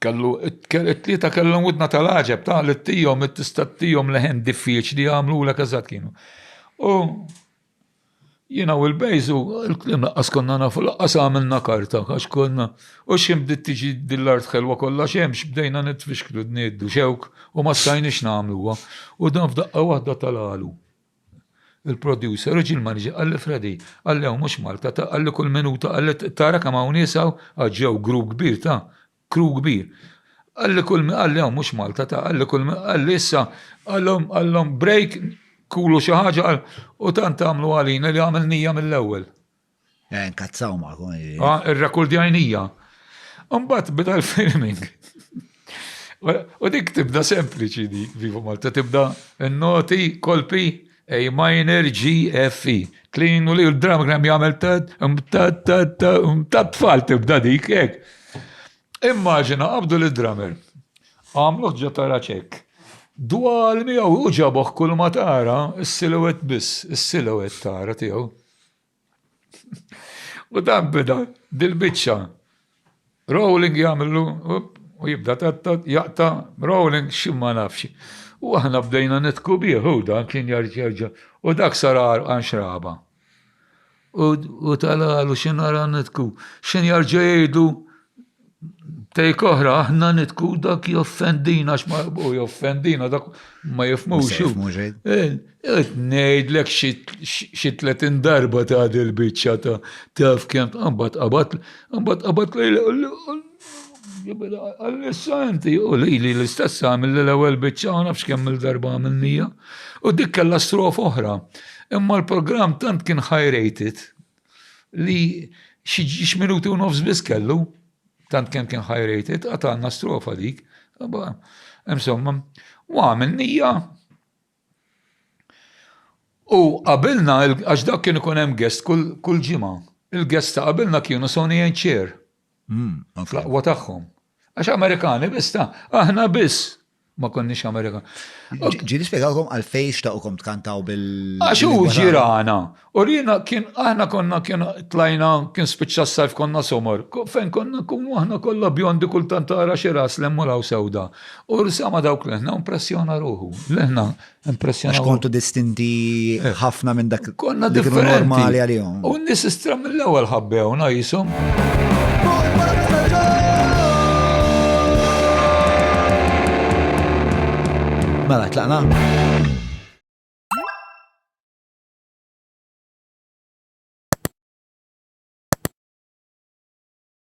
kellu it-tlieta kellhom widna tal-għaġeb ta' li tijom it-tista' tijom leħen diffiċli għamlulek eżatt kienu. U jina u l-bejzu, l-klim laqqas konna nafu, laqqas għamilna karta, għax konna, u xim bdiet tiġi dillart xelwa kollha xemx, bdejna nitfixklu d-niddu xewk u ma stajniex nagħmluha. U dan f'daqqa waħda tal-għalu. Il-producer u ġie l-manager qal li Freddy, qalli hawn mhux Malta, ta' qalli kull minuta qalli tara kemm hawn nies hawn, għax ġew group kbir ta' crew kbir. Qalli kull qalli hawn mhux Malta, ta' qalli kull qalli issa qalhom qalhom break kulu xi ħaġa qal u tant għamlu għalina li għamel nija mill-ewwel. Eh, nkazzaw ma' kun. Ah, Ir-rakurdjajnija. Umbat bida l-filming. U dik tibda sempliċi di, Viva Malta, tibda n-noti, kolpi, A minor, G, F, E. Clean u li l-dram gram jgħamil tad, um, tad, tad, tad, um, tad, tfal tibda dik, ek. Immaġina, għabdu l-drummer. Għamluħ ġo tara ċek. Dwal miegħu u ġaboħ kull ma tara, s-silowet biss, s-silowet tara tiegħu. U dan bida dil-biċċa. Rolling jagħmlu u jibda tatta jaqta rolling xi ma nafx. U aħna bdejna nitku bih u dan kien jarġa u dak sarar għan xraba. U talalu xi nara nitku x'in jarġa jgħidu Take oħra, aħna nitku dak joffendina, xma u joffendina, dak ma jifmux. Nejdlek xi 30 darba ta' dil-bicċa ta' taf kem għambat għabat, għambat għabat lejla, għal-issa inti, u li li l-istess għamil li l-ewel bicċa, għanafx kem il-darba għamilnija, u dik kella strof oħra. Imma l-program tant kien high rated, li xi minuti u nofs biss kellu, tant kemm kien high rated, għatanna strofa dik. Insomma, u għamil nija. U qabilna, għax dak kien ikun hemm guest kull ġimgħa. Il-guest ta' qabilna kienu Sonny and Cher. Fl-aqwa tagħhom. Għax Amerikani biss ta' aħna biss ma konniex Amerikan. Ġiri spiegalkom għal fejx ta' ukom tkantaw bil. Għax u ġirana. U rina kien aħna konna kien tlajna kien spiċċa s-sajf konna somor. Fejn konna kun aħna kollha bjondi kull tantara xi ras lemmu law sewda. U rsama dawk leħna impressjona ruħu. Leħna Impressjonanti. Għax kontu distinti ħafna minn dak. Konna differenti. Normali għalihom. U n-nis istra mill-ewwel ħabbewna jisum. Mela, tlaqna.